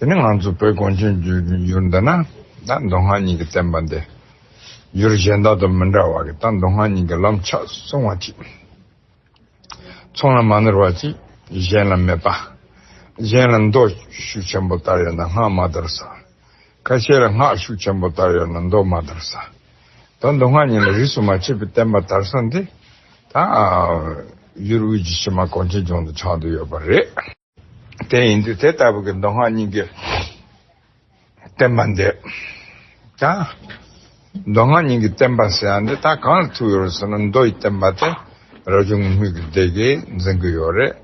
དེ་ནི་ང་ཚོ་བོད་གངས་ཅན་རྒྱུད་ཀྱི་ཡུལ་འདི་ན་ད་མདོ་སྔགས་གཉིས་ཀྱི་བསྟན་པ་འདི་ཡུལ་གཞན་དག་དང་མི་འདྲ་བ་གི་ད་མདོ་སྔགས་གཉིས་ཀྱི་ལམ་ཕྱག་སྲུང་བ་གཅིག་ཚང་ལ་མ་ནོར་བ་གཅིག་གཞན་ལ་མེད་པ་གཞན་ལ་མདོ་ཤུགས་ཆེན་པོ་ལྟར་ཡོད་ན་སྔགས་མ་དར་ས་ཁ་ཤས་ལ་སྔགས་ཤུགས་ཆེན་པོ་ལྟར་ཡོད་ན་མདོ་མ་དར་ས་ད་མདོ་སྔགས་གཉིས་ལ་རིས་སུ་མ་ཆད་པའི་བསྟན་པ་དར་ས་འདི་ད་ཡུལ་དབུས་ཀྱི་ཕྱི་མ་གངས་ཅན་ལྗོངས་དུ་ཆགས་འདུག་ཡོད་པ་རེད། དེ་ཡིན་དུས་དེ་ལྟ་བུ་གྱི་མདོ་སྔགས་སྙིང་གའི་བསྟན་པ་འདི་དང། མདོ་སྔགས་སྙིང་གའི་བསྟན་པ་ཟེར་ཡང་འདི་དག་གང་ལ་ཐུག་ཡོད་རེད་ཟེར་ན་མདོ་ཡི་བསྟན་པ་དེ་རབ་བྱུང་དངོས་མེད་ཀྱི་སྡེ་དགེ་འཛིན་གྱི་ཡོད་རེད།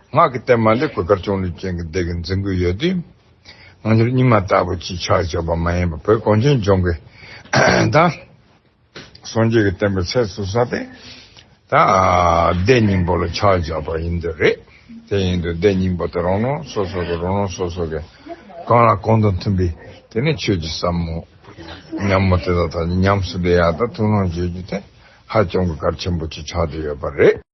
སྔགས་ཀྱི་བསྟན་པ་འདི་གོས་དཀར་ཆུང་ལུས་ཅན་གྱི་སྡེ་དགེ་འཛིན་གྱི་ཡོད་དུས། ང་ཚོར་རྙིང་མ་ལྟ་བུ་ཅིག་ཆགས་ཆོག་པ་མ་ཡིན་པར་བོད་གངས་ཅན་ལྗོངས་ཀྱི་དང། སངས་རྒྱས་ཀྱི་བསྟན་པའི་ཚད་སུ་ས་སྟེ། ད་བཟླས་སྙིང་པོ་ལ་ཕྱག་རྒྱ་བ་ཡིན་དུ་རེད། དེ་ཡིན་དུ་བཟླས་སྙིང་པོ་དེ་རང་རང་སོ་སོ་གི་རང་རང་སོ་སོ་གི་གང་ལ་གང་དང་མཐུན་པའི་དེ་ནི་ཆོས་ཀྱི་ཟབ་མོ། ཉམས་མོ་དེ་དག་ཐག་ཉམས་སུ་བསྡད་ཡག་ད་ཐུགས་སྣང་བརྗོད་རྒྱུ་དེ་ཧ་ཅང་གི་གལ་ཆེན་པོ་ཆགས་བསྡད་ཡོད་པ་རེད།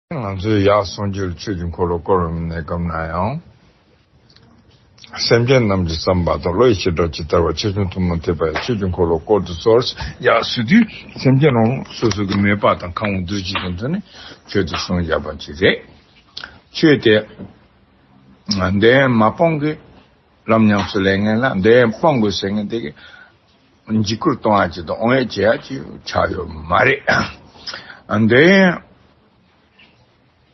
ང་ཚོས་ཡར་སོང་རྗེས་ཆོས་ཀྱི་འཁོར་ལོ་བསྐོར་བའི་གནས་སྐབས་ན་ཡང། སེམས་ཅན་རྣམས་ཀྱི་བསམ་པ་དང་བློ་ཡི་ཞེ་དྲག་ཇི་ལྟར་བ་ཆེ་ཆུང་ཐུན་མོང་ཐེག་པའི་ཆོས་ཀྱི་འཁོར་ལོ་བསྐོར་དུ་གསོལ། ཡར་བསུས་དུས་སེམས་ཅན་རང་རང་སོ་སོ་གི་མོས་པ་དང་གང་བ་འདུལ་བྱེད་ཀྱི་མཚོན་ནས་ཆོས་དེ་གསུངས་བཞག་པ་གཅིག་རེད། ཆོས་དེས་བདེན་མ་སྤངས་ཀྱི། རབ་ཉམས་སུ་ལས་ངན་ལ་འདི་ཡང་སྤང་དགོས་ཟེར་མཁན་དེ་གས་འཇིགས་སྐུལ་གཏོང་ཡག་བྱེད་དང་ཨོང་ཡག་བྱེད་ཡག་ཅིག་ཆགས་ཡོད་མ་རེད། འདི་ཡང་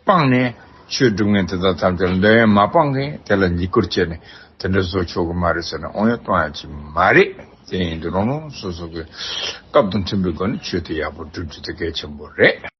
སྤངས་ནས་ཆོས་སྒྲུབ་མཁན་དེ་དག་ཐམས་ཅད་ལ་འདི་ཡང་མ་སྤངས་མཁན་དེ་ལ་འཇིགས་སྐུལ་བྱས་ནས་དེ་འདྲ་བཟོ་ཆོག་གི་མ་རེད་ཟེར་ནས་ཨོང་ཡག་གཏོང་ཡག་བྱེད་མ་རེད། དེ་ཡིན་དུས་རང་རང་སོ་སོ་གས་སྐབས་དང་མཐུན་པའི་སྒོ་ནས་ཆོས་དེ་ཡག་པོ་སྒྲུབ་རྒྱུ་དེ་གལ་ཆེན་པོ་རེད།